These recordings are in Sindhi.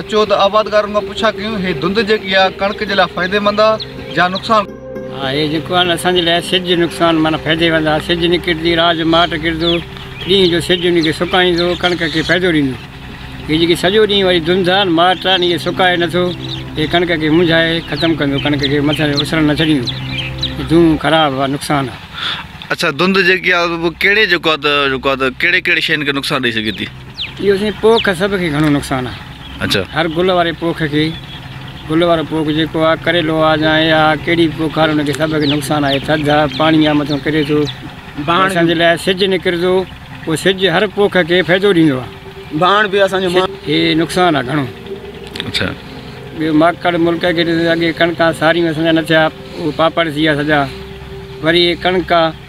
اچو ته آبادگارن کان پڇا ڪيون هي ڌنڌ جيڪي آ ڪڻڪ جي لاء فائدي مند آ جا نقصان. آ هي جيڪو آ اسان جي لاء سج نقصان معنيٰ فائدي مند آ سج نڪرندي رات جو ماٽ ڪرندو ڏينهن جو سج ان کي سڪائيندو ڪڻڪ کي فائدو ڏيندو هي جيڪي سڄو ڏينهن واري ڌنڌ آ ماٽ آ ان کي سڪائي نٿو هي ڪڻڪ کي منجهائي ختم ڪندو ڪڻڪ کي مٿن اسرڻ نه ڇڏيندو هي دونهون خراب آ نقصان آ. اڇا ڌنڌ جيڪي آ ڪهڙي جيڪو آ ته جيڪو آ ته ڪهڙي ڪهڙي شين کي نقصان ڏئي سگهي ٿي. اهو سائين پوک سڀ کي گهڻو نقصان آ اچا هر گل واري پوک کي گل وارو پوک جيڪو آ ڪريلو آ جا اي آ ڪهڙي پوک آ ان کي سڀ کي نقصان آهي ٿڌ آ پاڻي آ مٿو ڪري ٿو بهاڻ اسان جي لاء سج نڪرندو پو سج هر پوک کي فائدو ڏيندو آ بهاڻ به اسان جو هي نقصان آ گهڻو اچا ٻيو ماڪڙ ملڪ کي اڳي ڪڻڪا ساريون اسان جا نه ٿيا پاپڙ ٿي ويا سڄا وري هي ڪڻڪا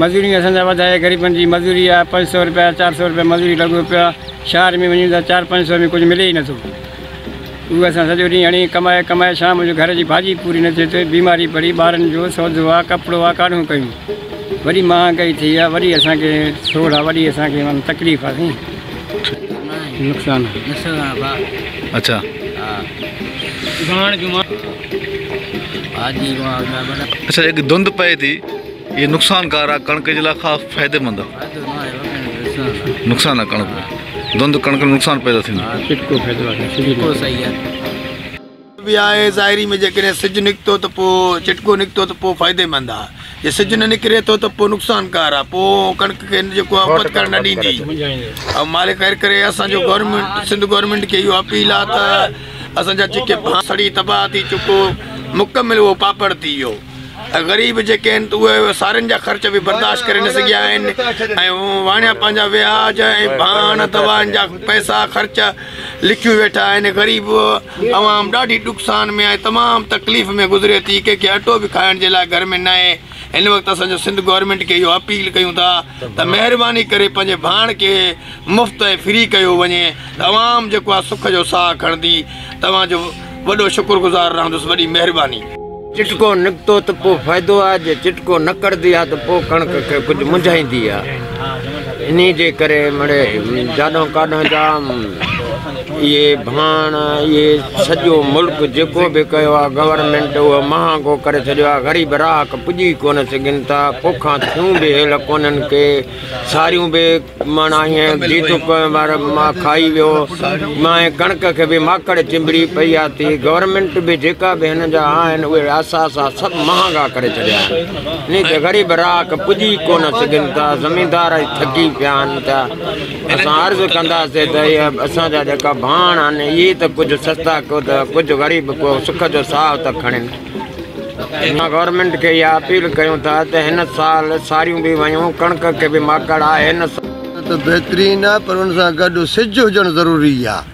مزوريون اسان جا وڌائي غريبن جي مزوري آ پنج سئو رپيا چار سئو رپيا مزوري لڳو پيو آ شهر ۾ وڃون ته چار پنج سئو ۾ ڪجهه ملي ئي نه ٿو اهو اسان سڄو ڏينهن هڻي ڪمائي ڪمائي شام جو گهر جي ڀاڄي پوري نه ٿئي ٿي بيماري پڙي ٻارن جو سودو آ ڪپڙو آ ڪاڏهون ڪيون وڏي مهانگائي ٿي آ وڏي اسان کي سوڙ آ وڏي اسان کي معنيٰ تڪليف آ سائين نقصان اچا اچا هڪ ڌنڌ پئي ٿي اهي نقصان ڪار آهي ڪڻڪ جي لاء خاص فائدي مند نقصان آهي ڪڻڪ ڌنڌ ڪڻڪ ۾ نقصان پيدا ظاهري ۾ جيڪڏهن سج نڪتو ته پوء چٽڪو نڪتو ته پوء فائدي مند آهي جي سج نه نڪري ٿو ته پوء نقصان ڪار آهي پوء ڪڻڪ کي جيڪو آهي اپت ڪرڻ نه ڏيندي ۽ مالڪ خير ڪري اسانجو گورنمينٽ سنڌ گورنمينٽ کي اهو اپيل آهي ته اسانجا جيڪي سڙي تباهه ٿي چڪو مڪمل اهو پاپڙ ٿي ويو ۽ غريب جيڪي آهن ته اهي سارين جا خرچ به برداشت ڪري نه سگهيا آهن ۽ واڻيا پنهنجا وياج ۽ ڀاڻ دوائن جا پئسا خرچ لڪيون ويٺا آهن غريب عوام ڏاڍي ڏک سان ۾ آهي تمام تڪليف ۾ گذري ٿي ڪنهن کي اٽو به کائڻ جي لاء گهر ۾ نه آهي هن وقت اسان جو سنڌ گورنمينٽ کي اهو اپيل ڪيون ٿا ته مهرباني ڪري پنهنجي ڀاڻ کي مفت ۽ فري ڪيو وڃي ته عوام جيڪو آ سک جو ساهه کڻندي توهان جو وڏو شڪر گذار رهندس وڏي مهرباني. چٽڪو نڪتو ته پوء فائدو آ جي چٽڪو نه ڪڙدي آ ته پوء ڪڻڪ کي ڪجهه منجهائيندي آ انهي جي ڪري مڙي جاڏو ڪاڏو جا اهي ڀاڻ اهي سڄو ملڪ جيڪو به ڪيو آ گورنمينٽ اهو مهانگو ڪري ڇڏيو آ غريب راهڪ پڄي ڪونه سگهن ٿا پوکان ٿيون به هيل ڪونهن ڪي ساريون به ماڻ آهين، جيتون پوئين وار ماء کائي ويو، ماء ڪڻڪ کي به ماڪڙ چنبڙي پئي آتي، گورنمينٽ به جيڪا به هن جا آهن اهي اثاثا سڀ مهانگا ڪري ڇڏيا آهن، انهي تي غريب رهاڪ پڄي ئي ڪونه سگهن ٿا، زميندار ئي ٿڪي پيا آهن ته اسان عرض ڪنداسين ته اهي اسان جا جيڪا ڀاڻ آهن اهي ته ڪجهه سستا ڪيو ته ڪجهه غريب ڪو سک جو ساهه ته کڻين. اسان گورنمينٽ کي اها اپيل ڪيون ٿا ته هن سال ساريون به ويون ڪڻڪ کي به ماڪڙ آهي هن سال. ڪڻڪ ته بهترين آهي پر ان سان گڏ سج هجڻ ضروري آهي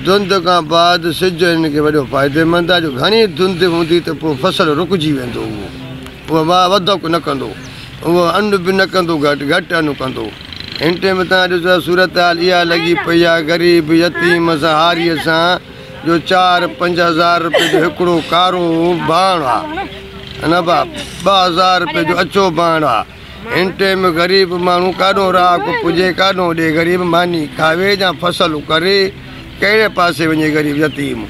ڌنڌ کان بعد سج هن کي وڏو فائديمند آهي جو گهڻي ڌنڌ هوندي ته پوء فصل رڪجي ويندو اهو واء وڌڪ نه ڪندو اهو ان به نه ڪندو گهٽ گهٽ ان ڪندو هن ٽيم تان ڏسو ته صورتحال اها لڳي پئي آهي غريب يتيم سهاري سان جو چار پنج هزار روپيه جو هڪڙو ڪارو ڀاڻ آ نه با ٻه هزار روپيه جو اچو ڀاڻ آ هن ٽيم غريب ماڻهو ڪاڏو رهاڪو پجي ڪاڏو ڏي غريب ماني کاوي جا فصل ڪري ڪهڙي پاسي وڃي غريب يتيم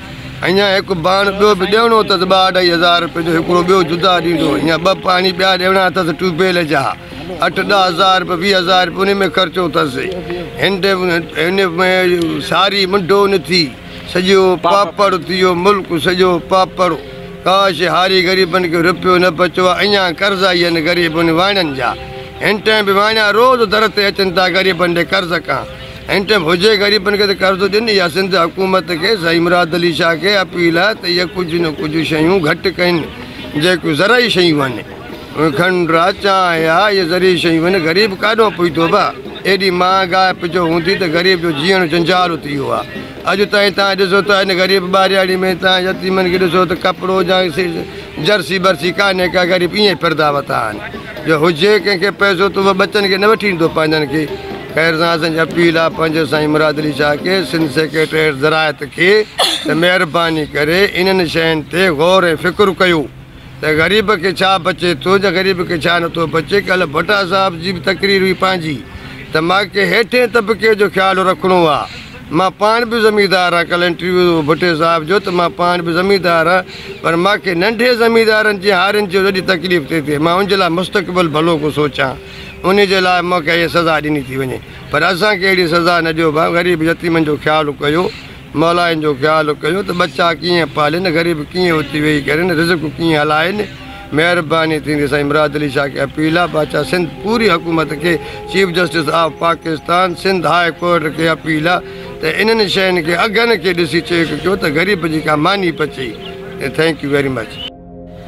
اڃا هڪ ڀاڻ ٻيو به ڏيڻو اٿس ٻه اڍائي هزار روپيه جو هڪڙو ٻيو جدا ڏيندو اڃا ٻه پاڻي ٻيا ڏيڻا اٿس ٽيوب ويل جا اٺ ڏهه هزار روپيا ويهه هزار روپيا ان ۾ خرچو اٿس هن هن ۾ ساري منڊو نه ٿي سڄو پاپڙ ٿي ويو ملڪ سڄو پاپڙ ڪاش هاري غريبن کي روپيو نه بچو آهي اڃا قرضا ئي آهن غريبن واڻن جا هن ٽائم به واڻيا روز در تي اچن ٿا غريبن ڏي قرض ڪان هن ٽائم هجي غريبن کي ته قرض ڏين يا سنڌ حڪومت کي سائين مراد علي شاهه کي اپيل آهي ته اهي ڪجهه نه ڪجهه شيون گهٽ ڪن جيڪو زرعي شيون آهن کنڊرا چانهه آ اهي ذري شيون هن غريب ڪاڏهون پهتو به ايڏي مهانگاء پجو هوندي ته غريب جو جيئڻ جنجال اتري ويو آ اڄ تائين تان ڏسو ته هن غريب ٻارياڙي ۾ تان يتيمن کي ڏسو ته ڪپڙو جا جرسي برسي ڪانهي ڪا غريب ايئن ڦردا وتا آهن جو هجي ڪنهن کي پئسو ته هو ٻچن کي نه وٺي ڏيندو پنهنجن کي خير سان اسان جي اپيل آ پنهنجو سائين مراد علي شاهه کي سنڌ سيڪريٽريٽ زراعت کي ته مهرباني ڪري انهن شين تي غور ۽ فڪر ڪيو. ته غريب کي ڇا بچي ٿو يا غريب کي ڇا نٿو بچي ڪلهه ڀٽا صاحب جي به تقرير هئي پنهنجي ته مان کي هيٺين طبقي جو خيال رکڻو آ مان پاڻ به زميندار آ ڪلهه انٽرويو هو ڀٽي صاحب جو ته مان پاڻ به زميندار آ پر مان کي ننڍي زميندارن جي هارين جو ڏاڍي تڪليف ٿي ٿئي مان ان جي لاء مستقبل ڀلو ڪو سوچان انهي جي لاء مون کي اهي سزا ڏني ٿي وڃي پر اسان کي اهڙي سزا نه ڏيو ڀان غريب يتيمن جو خيال ڪيو مالائن جو خيال ڪيو ته ٻچا ڪيئن پالين، غريب ڪيئن اٿي ويهي ڪرين، رزق ڪيئن هلائين، مهرباني ٿيندي سائين مراد علي شاهه کي اپيل آ بادشاهه سنڌ پوري حڪومت کي chief justice of Pakistan Sindh high court کي اپيل آ ته انهن شين کي اگهن کي ڏسي چيڪ ڪيو ته غريب جي ڪا ماني پچي ٿينڪ يو ويري مچ.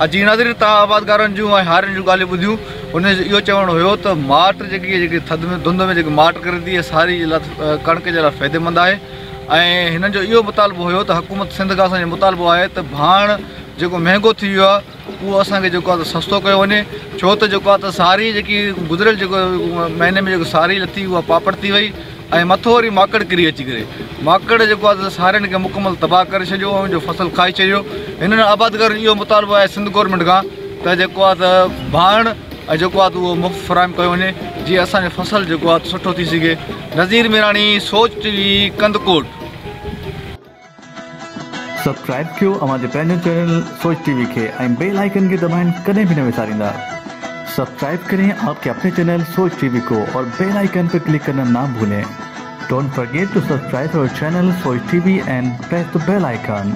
اڄ جي ناظرين تان آبادگارن جون ۽ هارين جون ڳالهيون ٻڌيون ان جو اهو چوڻ هيو ته ماٽ جيڪي جيڪي ٿڌ ۾ ڌنڌ ۾ جيڪي ماٽ ڪري ٿي اها ساري جي لاء ڪڻڪ جي لاء فائديمند آهي ۽ هنن جو اهو مطالبو هيو ته حڪومت سنڌ کان اسان جو مطالبو آهي ته ڀاڻ جيڪو مهنگو ٿي ويو آهي اهو اسان کي جيڪو آهي سستو ڪيو وڃي ڇو ته جيڪو آهي ته ساري جيڪي گذريل جيڪو مهيني ۾ جيڪو ساري لٿي اها پاپڙ ٿي وئي ۽ مٿو وري ماڪڙ ڪري اچي ڪري ماڪڙ جيڪو آهي سو سارين کي مڪمل تباهه ڪري ڇڏيو ۽ جو فصل کائي ڇڏيو هنن آبادگارن جو اهو مطالبو آهي سنڌ گورنمينٽ کان ته جيڪو آهي ته ڀاڻ ۽ جيڪو آهي ته اهو مفت فراهم ڪيو وڃي جي اسانجو فصل جيڪو آهي سٺو ٿي سگهي Nazir Mirani Soch T V Kandhkot subscribe ڪيو اوهان جي پنهنجو چينل سوچ ٽي وي کي ۽ بيل آئيڪن کي دٻائڻ ڪڏهن به نه وساريندا سبسڪرائب ڪرين آپ ڪي اپني چينل سوچ ٽي وي ڪو اور بيل آئيڪن پي ڪلڪ ڪرنا نا ڀولين ڊونٽ فرگيٽ ٽو سبسڪرائب اور channel Soch T V and press ته بيل آئيڪن.